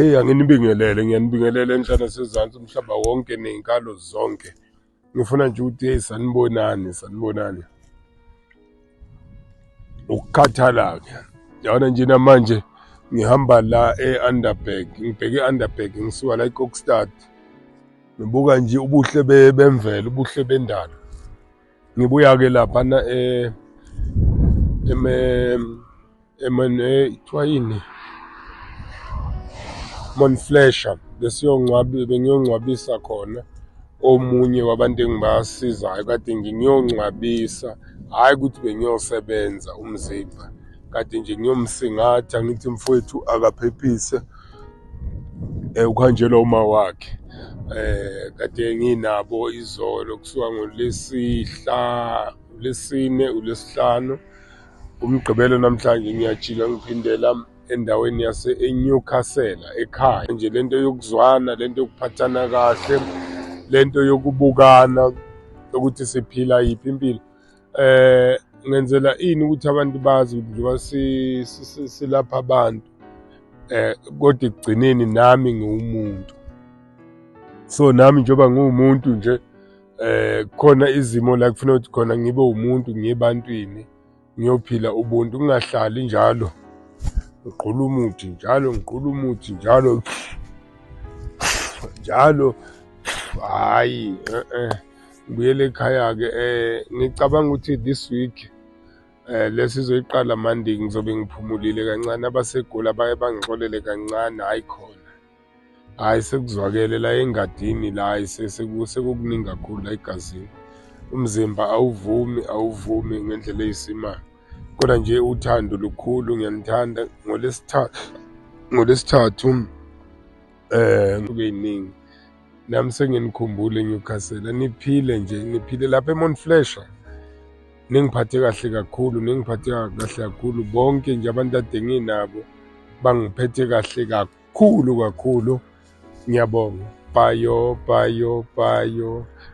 Eyi anginibingelele ngiyanibingelela enhlana sezantsi umhlaba wonke ney'nkalo zonke ngifuna nje ukuthi eyi sanibonani sanibonani ukukhathala-ke yabona nje namanje ngihamba la e-underbag ngibheke i-underbag ngisuka la ikokstad ngibuka nje ubuhle bemvelo ubuhle bendalo Ngibuya-ke laphana eh, kuthiwa eh, yini monflesha bengiyongcwabisa khona omunye wabantu engibasizayo kade nje ngiyongcwabisa hhayi ukuthi bengiyosebenza umzimba kade nje ngiyomsingatha ngithi mfowethu akaphephise eh uhanjelwa uma wakhe eh kade nginabo izolo kusuka ngolesihla lesine ulesihlanu umgqibelo namhlanje ngiyajika ngiphindela endaweni yase eNewcastle ekhaya nje lento yokuzwana lento yokuphathana kahle lento yokubukana ukuthi siphila yiphi impilo eh ngenzela ini ukuthi abantu bazi ukuthi njengoba silapha abantu eh kodwa ekugcineni nami ngiwumuntu so nami njengoba ngiwumuntu nje eh khona izimo la kufanele ukuthi khona ngibe umuntu ngiyebantwini ngiyophila ubuntu kungahlali njalo ngiqhula umuthi njalo ngiqhula umuthi njalo njalo hayi eh eh ngibuyele ekhaya-ke um ngicabanga ukuthi this week um lesizoyiqala monday ngizobe ngiphumulile kancane abasegoli abaye bangixolele kancane hhayi khona hhayi sekuzwakele la engadini la hhayi sekukuningi kakhulu la egazini umzimba awuvumi awuvumi ngendlela eyisimanga kodwa nje uthando lukhulu ngiyanithanda ngolesithathu ngolesithathu eh kube yiningi nami senginikhumbule eNewcastle niphile nje niphile lapha eMount Flasher ningiphathe kahle kakhulu ningiphathe kahle kakhulu bonke nje abantu ade nginabo bangiphethe kahle kakhulu kakhulu ngiyabonga bhayo bhayo bhayo